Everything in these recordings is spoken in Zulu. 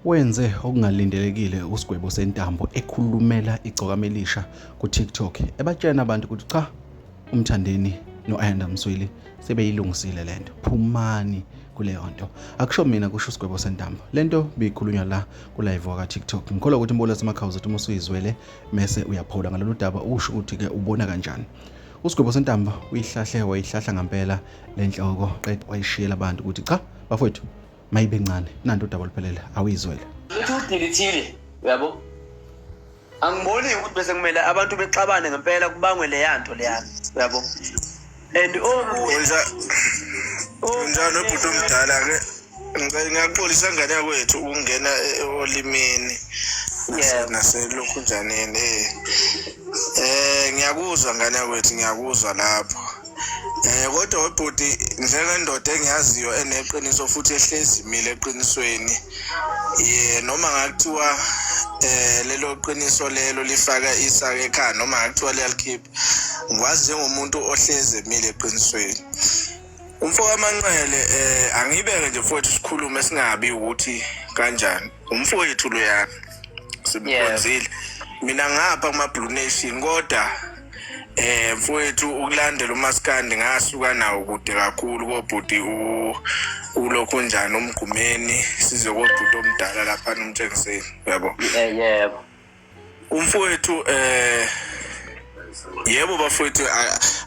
Wenze okungalindelekile usigwebo sentambo ekhulumela igcokama elisha ku-TikTok ebatshena abantu ukuthi cha umthandeni no-Ayanda Msweli sebeyilungisile lento phumani kuleyo nto akusho mina kusho usigwebo sentambo lento biyikhulunywa la kulive waka TikTok ngikholwa ukuthi umbola semakhawuza uthi uma usuyizwele mese uyaphola ngalolu daba usho ukuthi ke ubona kanjani usigwebo sentambo uyihlahle wayihlahla ngampela le nhloko qeda wayishiyela abantu ukuthi cha bafowethu mayibe ncane nanto udaba oluphelele awuyizwele uthi udilithile uyabo angiboni ukuthi bese kumele abantu bexabane ngempela kubangwe leya nto leya uyabo and okunjani obhuti omdala ke ngicela ngiyaxolisa ngane yakwethu ukungena e- olimini Yeah. naselokhunjaneni eh eh ngiyakuzwa ngane yakwethu ngiyakuzwa lapho eh kodwa webhuti njengendoda engiyaziyo eneqiniso futhi ehlezi imile eqinisweni ye noma ngakuthiwa eh lelo qiniso lelo lifaka isaka ekhaya noma ngakuthiwa liyalikhipha ngikwazi njengomuntu ohlezi emile eqinisweni umfokamanqele eh angiyibeke nje mfowethu sikhulume singabi ukuthi kanjani umfowethu loyana simkhonzile mina ngapha kuma blue nation kodwa eh mfowethu ukulandela umaskandi ngasuka nawo kude kakhulu kobhuti u ulokhu njani umgqumeni size kobhuti omdala lapha nomtshengiseni yabo yebo umfowethu eh yebo bafowethu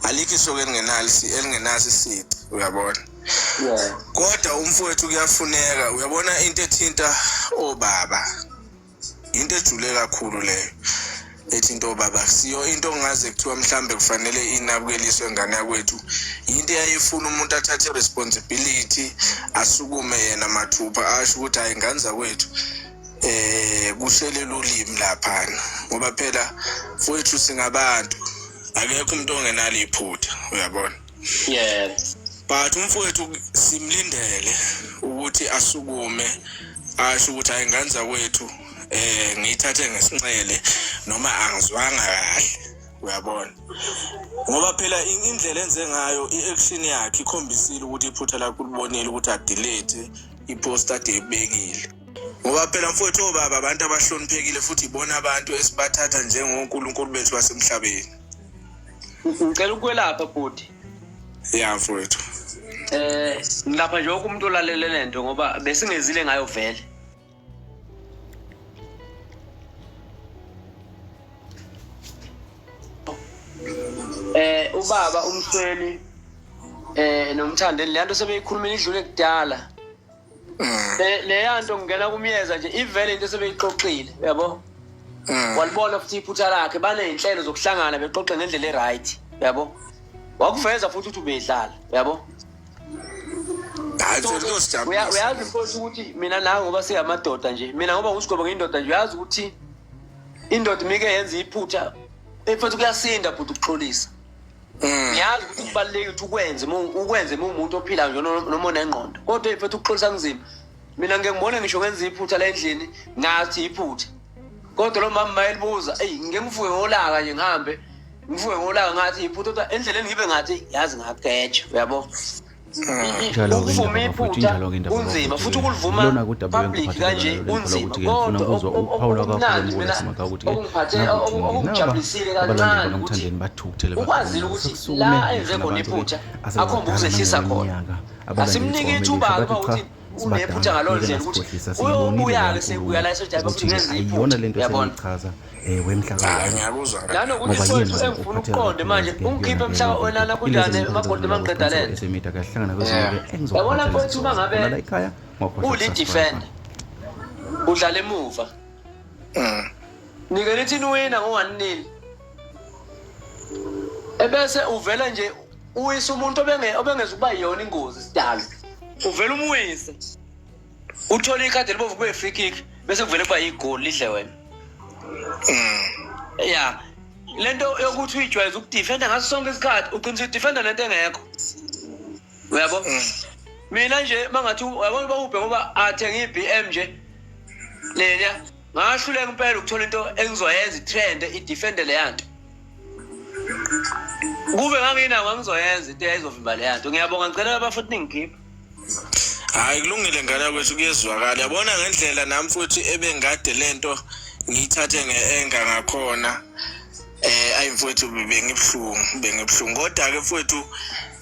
alikho isoke elingenalisi elingenasi sici uyabona kodwa umfowethu kuyafuneka uyabona into ethinta obaba into ejule kakhulu leyo ethi into baba siyo into ongaze kuthiwa mhlambe kufanele inabukeliswe ngane yakwethu into eyayifuna umuntu athathe responsibility asukume yena mathupha asho ukuthi hayi nganza kwethu eh kuselela ulimi laphana ngoba phela futhi singabantu akekho umuntu ongenalo iphutha uyabona yebo but umfowethu simlindele ukuthi asukume asho ukuthi hayi nganza kwethu eh ngiyithathe ngesinxele noma angizwanga kahle uyabona ngoba phela indlela enze ngayo i-action yakhe ikhombisile ukuthi iphutha lakho ulibonile ukuthi adelete ipost ade ebekile ngoba phela mfowethu obaba abantu abahloniphekile futhi ibona abantu esibathatha njengonkulunkulu bethu basemhlabeni ngicela ukwelapha bhuti ya mfowethu eh ngilapha nje wonke umuntu olalele le nto ngoba besingezile ngayo vele eh ubaba umsweni eh nomthandeni le nto sebeyikhulumela idlule kudala Mm. Le- leya nto ngingena kumyeza nje ivele into esebeyixoxile uyabo Mm. walibona futhi iphutha lakhe baney'nhlelo zokuhlangana bexoxe ngendlela e-right uyabo wakuveza futhi ukuthi ubedlala uyabo Hayi So, mfethu uya- kosijabulisa. uyazi mfowethu ukuthi mina nawe ngoba singamadoda nje mina ngoba ngusigobo ngiyindoda nje uyazi ukuthi indoda imike yenza iphutha mfethu kuyasinda bhuti ukuxolisa Mm. ngiyazi ukuthi kubalulekile ukuthi ukwenze ukwenze uma umuntu ophilayo nje noma onengqondo kodwa mfethu ukuxolisa kunzima mina ngike ngibone ngisho ngenza iphutha la endlini ngathi iphutha kodwa lo mama mayelibuza eyi ngike ngivuke ngolaka nje ngihambe ngivuke ngolaka ngathi iphutha kodwa endleleni ngibe ngathi yazi ngageja uyabo kunzima futhi ukulivuma public kanje kunzima kodwa okumnandi mina okungijabulisile kancane ukuthi ukwazile ukuthi la enze khona iphutha akhomba ukuzehlisa khona asimnike ithuba-ke ukuthi unephutha ngaloo ndlela ukuthi uyobuya-ke sekuya la esojabe futhi ngenza iphutha yabona eh, wemhlakalokuthi soyithu engifuna ukuqonde manje ungikhiphe mhlaka olala kunjani emagolide mangiqeda leyabona mfowethu uma ngabe ulidefenda udlala emuva mm. nike nithi niwina ngo-one nil ebese uvela nje uwisa umuntu obenge- obengeza ukuba yiyona ingozi sidalo uvele umwise uthole ikhadi elibovu kube free kick bese kuvele kuba yigoli lidle wena ya le nto yokuthi uyijwayeza ukudifenda ngaso sonke isikhathi uqinisa udifenda nento engekho uyabo mina nje mangathi yabona bawubhe ngoba athenge i-b m nje lena ngahluleka impela ukuthola into engizoyenza i-trend idifende leya nto kube nganginawo angizoyenza into eyayizovimba le yanto ngiyabonga ngicela abafuthi ningikhiphe hayi kulungile ngane kwethu kuyezwakala yabona ngendlela nami futhi ebengade le nto ngiyithathe nge-enga ngakhona eh ayi mfowethu bengibuhlungu bengibuhlungu kodwa ke mfowethu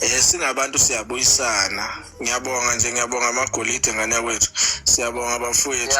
eh singabantu siyabuyisana ngiyabonga nje ngiyabonga amagolide ngane yakwethu siyabonga bafowethu